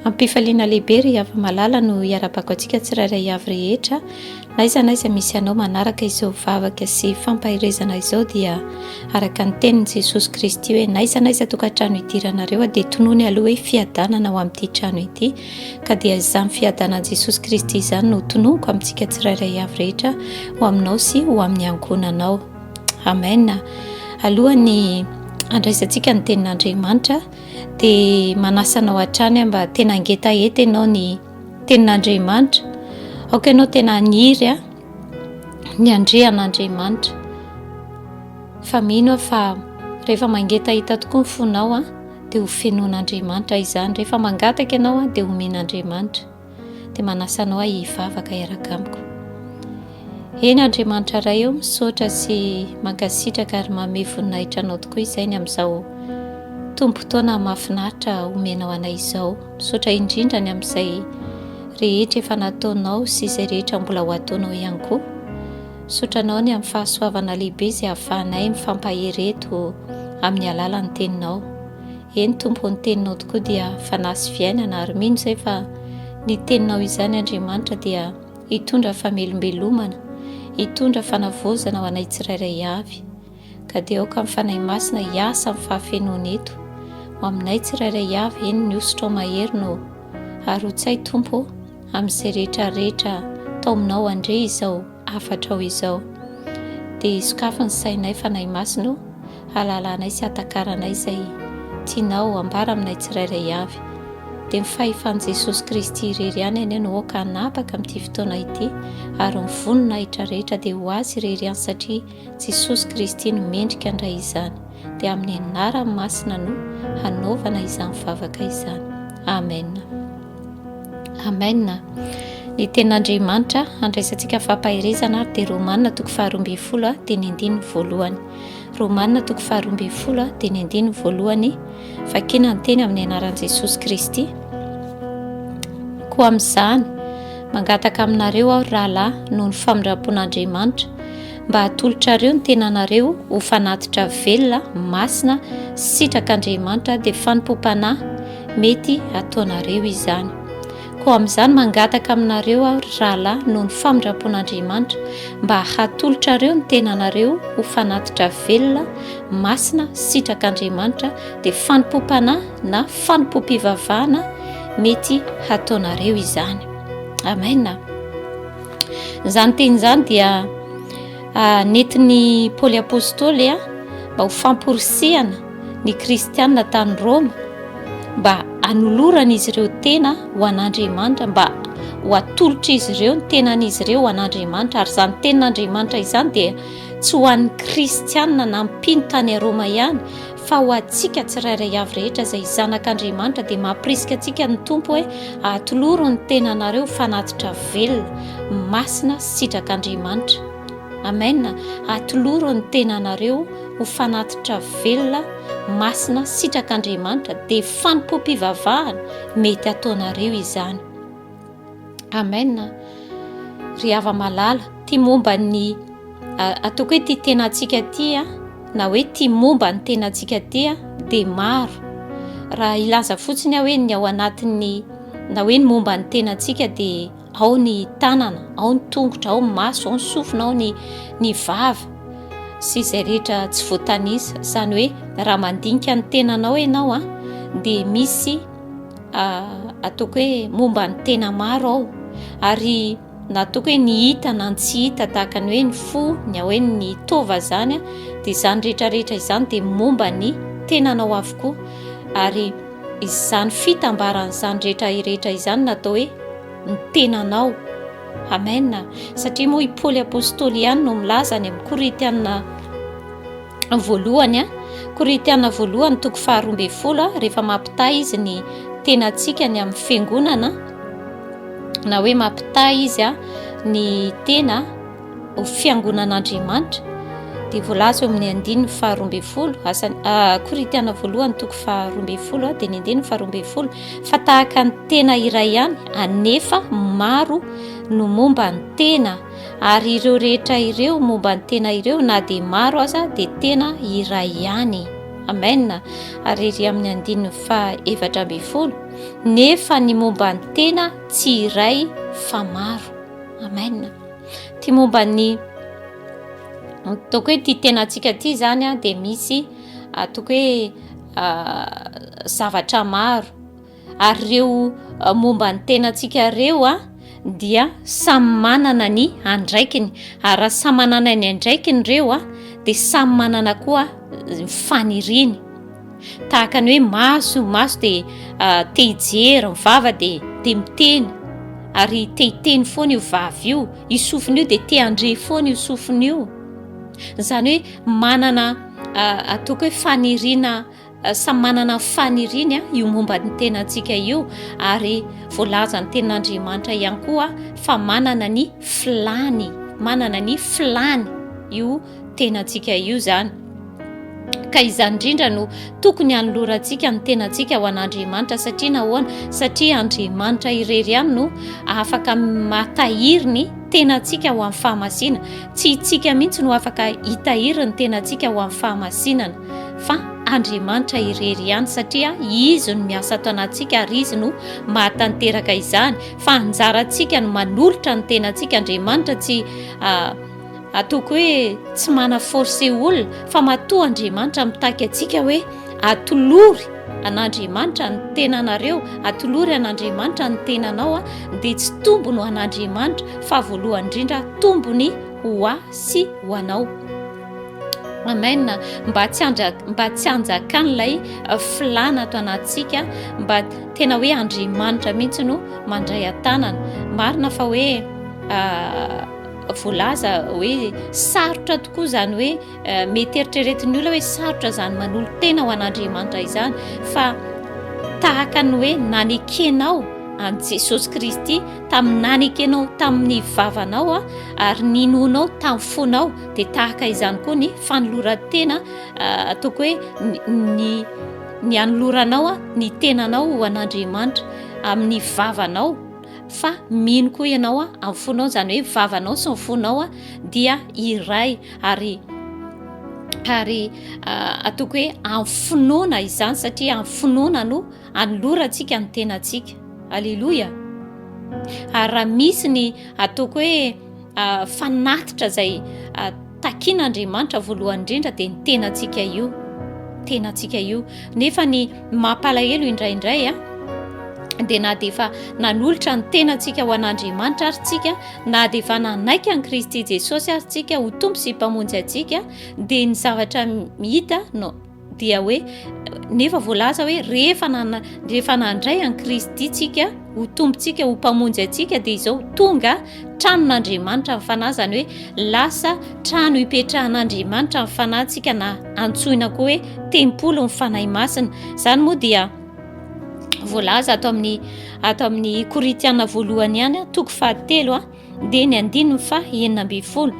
Ampifaliana lehibe ry Ava Malala no hiarabako antsika tsirairay avy rehetra. Na iza na iza misy anao manaraka izao vavaka sy fampaherezana izao dia araka ny tenin'i Jesosy Kristy hoe na iza na iza tokantrano idiranareo dia tonony aloha hoe fiadanana ao amin'ity trano ity. Ka dia izany fiadanan'i Jesosy Kristy izany no tononiko amintsika tsirairay avy rehetra ho aminao sy ho amin'ny ankohonanao. Amen. Alohan'ny andraisantsika ny tenin'Andriamanitra dia manasa anao hatrany aho mba tena hangetaheta ianao ny tenin'Andriamanitra. Aoka ianao tena haniry a ny andrehan'Andriamanitra. Fa mino aho fa rehefa mangetaheta tokoa ny fonao a. dia ho fenoan'Andriamanitra izany. Rehefa mangataka ianao dia homen'Andriamanitra. Dia manasa anao ahy hivavaka hiaraka amiko. Eny Andriamanitra Ray eo, misaotra sy mankasitraka ary mamehy voninahitra anao tokoa izay ny amin'izao tompotoana mafinaritra omenao anay izao. Misaotra indrindra ny amin'izay rehetra efa nataonao sy izay rehetra mbola ho ataonao ihany koa. Misaotra Anao ny amin'ny fahasoavana lehibe izay ahafahanay mifampahery eto amin'ny alalan'ny Teninao. Eny Tompo ô, ny Teninao tokoa dia fanahy sy fiainana ary mino izay fa ny Teninao izany Andriamanitra dia hitondra famelombelomana, hitondra fanavaozana ho anay tsirairay avy. Ka dia aoka ny Fanahy Masina hiasa amin'ny fahafenoany eto, ho aminay tsirairay avy, eny ny hosotrao mahery no harotsay Tompo ô, amin'izay rehetra rehetra taominao andre izao hafatrao izao. Dia sokafy ny sainay Fanahy Masina ô, halalanay sy hatakaranay izay tianao hambara aminay tsirairay avy. Dia ny fahefan'i Jesosy Kristy irery ihany anie no aoka hanapaka amin'ity fotoana ity, ary ny voninahitra rehetra dia ho Azy irery ihany satria Jesosy Kristy no mendrika handray izany, dia amin'ny Anarany Masina no hanaovana izany vavaka izany. Amen. Amen. Ny Tenin'Andriamanitra handraisantsika fampaherezana ary dia Romana toko faharoa ambin'ny folo dia ny andininy voalohany. Romana toko faharoa ambin'ny folo dia ny andininy voalohany, vakina ny teny amin'ny Anaran'i Jesosy Kristy. Koa amin'izany, mangataka aminareo aho ry rahalahy noho ny famindram-pon'Andriamanitra mba hatolotrareo ny tenanareo ho fanatitra velona, masina, sitrak'Andriamanitra, dia fanompoam-panahy mety ataonareo izany. Koa amin'izany mangataka aminareo aho, ry rahalahy, noho ny famindram-pon'Andriamanitra, mba hatolotrareo ny tenanareo ho fanatitra velona, masina, sitrak'Andriamanitra, dia fanompoam-panahy na fanompoam-pivavahana mety hataonareo izany. Amena. Izany teny izany dia ah, netin'i Paoly Apôstôly ah, mba ho famporisihana ny Kristianina tany Rôma mba hanoloran'izy ireo tena ho an'Andriamanitra, mba ho atolotr'izy ireo ny tenan'izy ireo ho an'Andriamanitra, ary izany tenin'Andriamanitra izany dia tsy ho an'ny Kristianina na mpino tany Rôma ihany, fa ho antsika tsirairay avy rehetra izay zanak'Andriamanitra dia mampirisika antsika ny Tompo hoe atoloro ny tenanareo ho fanatitra velona, masina sy sitrak'Andriamanitra. Amen, atoloro ny tenanareo ho fanatitra velona, masina sy sitrak'Andriamanitra dia fanompoam-pivavahana mety ataonareo izany. Amen ry hava malala. Ty momba ny ataoko hoe ty tena antsika ty a na hoe ty momba ny tena antsika ty a dia maro raha hilaza fotsiny aho hoe ny ao anatin'ny na hoe ny momba ny tena antsika dia ao ny tanana ao ny tongotra ao ny maso ao ny sofina ao ny ny vava sy izay rehetra tsy voatanisa izany hoe raha mandinika ny tenanao ianao a dia misy Ataoko hoe momba ny tena maro aho ary nataoko hoe ny hita na ny tsy hita tahaka ny hoe ny fo ny hoe ny tova zany dia izany rehetrarehetra izany dia momba ny tenanao avokoa ary izany fitambaran'izany rehetra rehetra izany natao hoe ny tenanao amen satria moa i Paoly apostoly ihany no milaza any amin'ny Korintiana voalohany a, Korintiana voalohany toko faharoa ambin'ny folo a, rehefa mampitaha izy ny tenantsika ny amin'ny fiangonana na hoe mampitaha izy a ny tena ho fiangonan'Andriamanitra dia voalaza eo amin'ny andininy faharoa ambin'ny folo asany ah, Korintiana voalohany toko faharoa ambin'ny folo a dia ny andininy faharoa ambin'ny folo fa tahaka ny tena iray ihany anefa maro no momba ny tena ary ireo rehetra ireo momba ny tena ireo na dia maro aza dia tena iray ihany amen ary ery amin'ny andininy fa efatra ambin'ny folo nefa ny momba ny tena tsy iray fa maro amen ty momba ny toko hoe ty tena antsika ty zany a dia misy ah, toko hoe ah, zavatra maro ary ireo momba ny tenantsika ireo a dia samy manana ny andraikiny ary raha samy manana ny andraikiny ireo a dia samy manana koa faniriny tahaka ny hoe maso maso dia te hijery ny vava dia te miteny ary te hiteny foana io vava io i sofina io dia te handre foana io sofina io izany hoe manana ataoko hoe fanirina Samy manana ny faniriany io momba ny tenantsika io ary voalazan'ny tenin'Andriamanitra ihany koa fa manana ny filàny, manana ny filàny io tenantsika io izany. Ka izany indrindra no tokony hanolorantsika ny tenantsika ho an'Andriamanitra satria nahoana? Satria Andriamanitra irery ihany no afaka mahatahiry ny tenantsika ho amin'ny fahamasina. Tsy itsika mihitsy no afaka hitahiry ny tenantsika ho amin'ny fahamasinana. fa Andriamanitra irery ihany satria Izy no miasa ato anatintsika ary Izy no mahatanteraka izany fa anjarantsika no manolotra ny tenantsika Andriamanitra tsy ataoko hoe tsy mana force olona fa matoa Andriamanitra mitaky antsika hoe atolory an'Andriamanitra ny tenanareo atolory an'Andriamanitra ny tenanao a dia tsy tombony ho an'Andriamanitra fa voalohany indrindra tombony ho ahy sy ho anao Amen mba tsy mba tsy hanjakan'ilay uh, filana ato anatintsika mba tena hoe andriamanitra mihitsy no mandray an-tanana marina fa hoe uh, voalaza hoe sarotra tokoa izany hoe uh, mety eritreretin'ny olona hoe sarotra izany manolo tena ho an'andriamanitra izany fa tahaka ny hoe nanekenao an'i jesosy kristy tamin'ny nanekenao tamin'ny vavanao a ary ninonao tamin'ny fonao Dia tahaka izany koa ny fanoloran-tena ataoko hoe ny ny hanoloranao ny tenanao ho an'Andriamanitra amin'ny vavanao fa mino koa ianao amin'ny fonao izany hoe vavanao sy ny fonao dia iray ary ary ataoko hoe amin'ny finoana izany satria amin'ny finoana no anolorantsika ny tenantsika aleloia ary raha misy ny ataoko hoe fanatitra izay takin'Andriamanitra voalohany indrindra dia ny tenantsika io tenantsika io nefa ny mampalahelo indraindray a dia na dia efa nanolotra ny tenantsika ho an'Andriamanitra ary tsika na dia efa nanaiky an'i Kristy Jesosy ary tsika ho tompo sy mpamonjy antsika dia ny zavatra hita no dia hoe nefa voalaza hoe rehefa nana rehefa nandray an'i Kristy tsika ho tompontsika ho mpamonjy antsika dia izao tonga tranon'Andriamanitra ny fanahy izany hoe lasa trano hipetrahan'Andriamanitra ny fanahintsika na antsoina koa hoe tempoly ny fanahy masina izany moa dia voalaza ato amin'ny ato amin'ny korintiana voalohany ihany toko fahatelo a Dia ny andininy faha enina ambin'ny folo,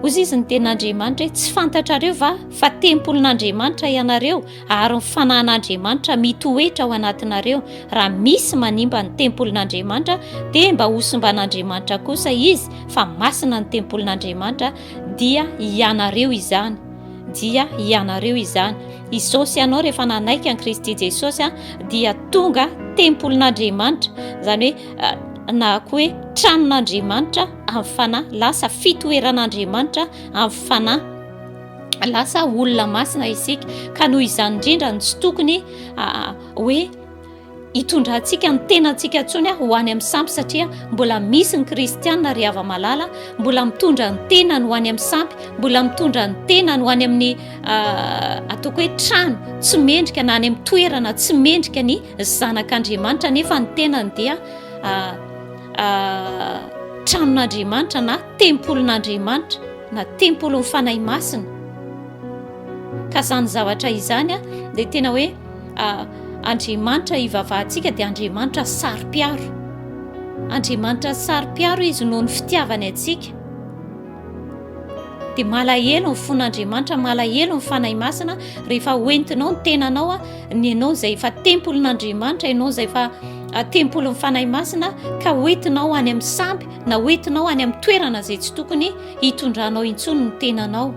Hoy Izy ny Tenin'Andriamanitra hoe, Tsy fantatrareo va fa tempolin'Andriamanitra ianareo ary ny Fanahin'Andriamanitra mitoetra ao anatinareo? Raha misy manimba ny tempolin'Andriamanitra dia mba hosimban'Andriamanitra kosa izy, fa masina ny tempolin'Andriamanitra, dia ianareo izany, dia ianareo izany. Izao sy ianao rehefa nanaiky an'i Kristy Jesosy dia tonga tempolin'Andriamanitra, izany hoe, na koa hoe tranon'Andriamanitra amin'ny fanahy, lasa fitoeran'Andriamanitra amin'ny fanahy. Lasa olona masina isika ka noho izany indrindra no tsy tokony hoe hitondrantsika ny tenantsika ntsony ho any amin'ny sampy satria mbola misy ny kristianina ry hava malala mbola mitondra ny tenany ho any amin'ny sampy mbola mitondra ny tenany ho any amin'ny ataoko hoe trano tsy mendrika na any amin'ny toerana tsy mendrika ny Zanak'Andriamanitra nefa ny tenany dia tranon'Andriamanitra na tempolin'Andriamanitra na tempolin'ny Fanahy Masina. Ka izany zavatra izany dia tena hoe Andriamanitra ivavahantsika dia Andriamanitra saro-piaro. Andriamanitra saro-piaro izy noho ny fitiavany antsika. dia malahelo ny fon'Andriamanitra, malahelo ny Fanahy Masina rehefa hoentinao ny tenanao ny ianao izay efa tempolin'Andriamanitra, ianao izay efa ah, tempolin'ny Fanahy Masina ka hoentinao any amin'ny sampy na hoentinao any amin'ny toerana izay tsy tokony hitondranao intsony ny tenanao.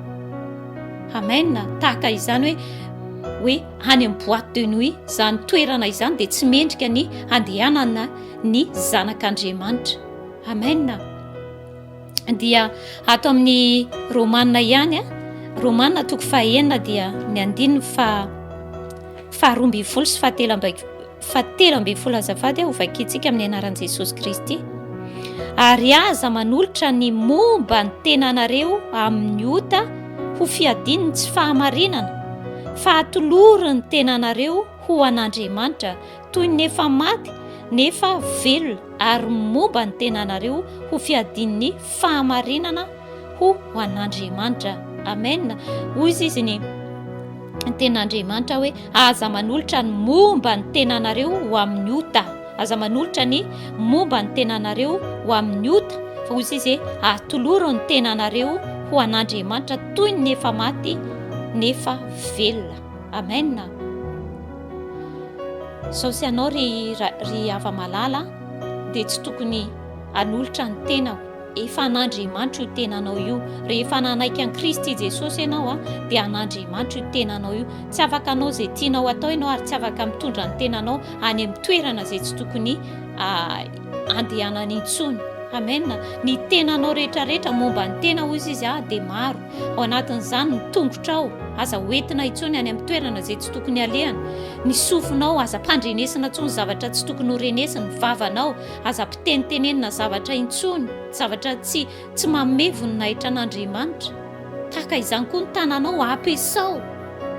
Amen. Tahaka izany hoe hoe any amin'ny boîte de nuit izany toerana izany dia tsy mendrika ny handehanana ny zanak'Andriamanitra. Amen. dia ato amin'ny romanina ihany a romanina toko fahenina dia ny andininy fa faharoa ambin'ny folo sy fahatelo amby fahatelo ambin'ny folo azafady ho vakintsika amin'ny anaran'i jesosy kristy ary aza manolotra ny momba ny tenanareo amin'ny ota ho fiadiny ny tsy fahamarinana fahatoloro ny tenanareo ho an'andriamanitra toy ny efa maty nefa velona, ary moba ny tenanareo ho fiadian'ny fahamarinana ho an'Andriamanitra. Amena. Hoy izy izy ny tenan'Andriamanitra hoe aza manolotra ny momba ny tenanareo ho amin'ny ota, aza manolotra ny momba ny tenanareo ho amin'ny ota, fa hoy izy izy atoloro ny tenanareo ho an'Andriamanitra toy ny efa maty nefa velona. Amena. Sao tsy ianao ry ry hava-malala dia tsy tokony hanolotra ny tenako. Efa an'Andriamanitra io tenanao io. Rehefa nanaiky an'i Kristy Jesosy ianao dia an'Andriamanitra io tenanao io. Tsy afaka hanao izay tianao atao ianao ary tsy afaka mitondra ny tenanao any amin'ny toerana izay tsy tokony andehanany intsony. Amen. Ny tenanao rehetra rehetra momba ny tena hoy izy ah dia maro. Ao anatin'izany ny tongotrao, aza hoentina intsony any amin'ny toerana izay tsy tokony halehany. Ny sofinao, aza ampandrenesina intsony zavatra tsy tokony ho renesiny. Ny vavanao, aza ampitinitenenina zavatra intsony, zavatra tsy Tsy manome voninahitra an'Andriamanitra. Tahaka izany koa ny tananao, ampiasao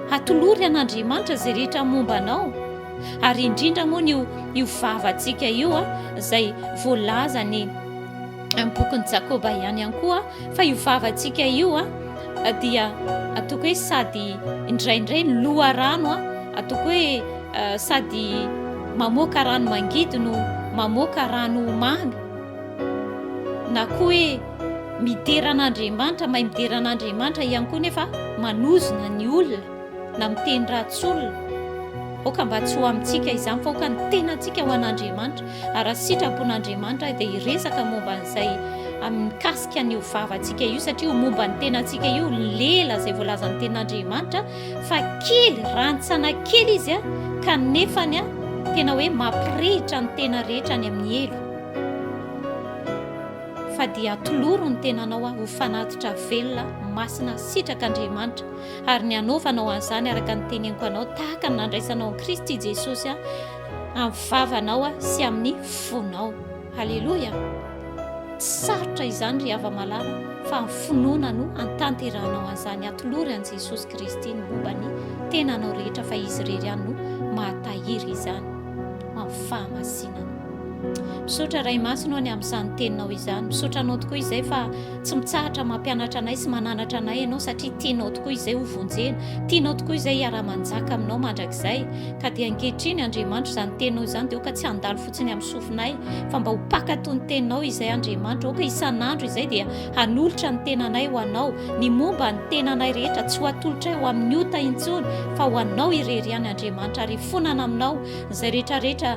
hatolory an'Andriamanitra izay rehetra momba anao, ary indrindra moa io io vavantsika io a, izay voalaza ny amin'ny bokin'i Jakoba ihany ihany koa fa io vavantsika io a dia atoko hoe sady indraindray ny loharano a atoko hoe sady mamoaka rano mangidy no mamoaka rano mamy Na koa hoe midera an'Andriamanitra, mahay midera an'Andriamanitra ihany koa nefa manozona ny olona na miteny ratsy olona. Aoka mba tsy ho amintsika izany fa aoka ny tenantsika ho an'Andriamanitra. Ary raha sitrapon'Andriamanitra dia hiresaka momba an'izay mikasika an'io vavantsika io satria ho momba ny tenantsika io ny lela izay voalazan'ny tenin'Andriamanitra fa kely rantsana kely izy kanefa tena hoe mampirehitra ny tena rehetra any amin'ny helo. fa dia atoloro ny tenanao ho fanatitra velona masina sitrak'Andriamanitra, ary ny hanaovanao an'izany araka ny teneniko anao tahaka ny nandraisanao an'i Kristy Jesosy amin'ny vavanao sy amin'ny fonao. Haleloia! Tsy sarotra izany ry hava-malala fa amin'ny finoana no antanterahanao an'izany. Atolory an'i Jesosy Kristy ny momba ny tenanao rehetra fa Izy irery ihany no mahatahiry izany amin'ny fahamasinana. Misaotra Ray Masina any amin'izany teninao izany. Misaotra anao tokoa izay fa tsy mitsahatra mampianatra anay sy mananatra anay ianao satria tianao tokoa izay ho vonjena. Tianao tokoa izay hiaraha-manjaka aminao mandrakizay. Ka dia ankehitriny Andriamanitro izany teninao izany dia aoka tsy handalo fotsiny amin'ny sofinay fa mba ho mpankatò ny teninao izay Andriamanitro. Aoka isan'andro izay dia hanolotra ny tenanay ho anao. Ny momba ny tenanay rehetra tsy ho atolotray ho amin'ny ota intsony fa ho anao irery ihany Andriamanitra ary hifonana aminao izay rehetrarehetra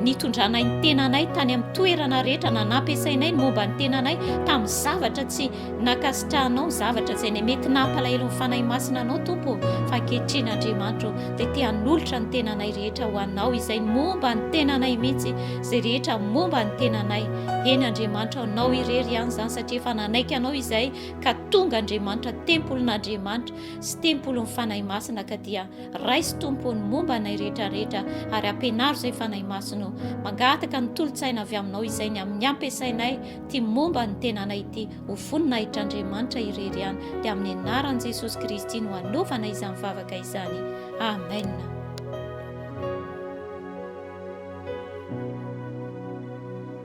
nitondranay ny tenanay tany amin'ny toerana rehetra na nampiasainay ny momba ny tenanay tamin'ny zavatra tsy nakasitrahanao ny zavatra izay ny mety nampalahelo ny fanahy masina anao tompo fa ankehitriny andriamanitro dia te hanolotra ny tenanay rehetra ho anao izay ny momba ny tenanay mihitsy izay rehetra momba ny tenanay eny andriamanitro anao irery ihany izany satria efa nanaiky anao izay ka tonga andriamanitra tempolin'andriamanitra sy tempolin'ny fanahy masina ka dia Raiso Tompo ny momba anay rehetra rehetra ary ampianaro izay Fanahy Masina o. Mangataka ny tolo-tsaina avy aminao izay ny amin'ny ampiasainay ity momba ny tenanay ity ho voninahitr'Andriamanitra irery ihany dia amin'ny anaran'i Jesosy Kristy no anaovana izany vavaka izany. Amen.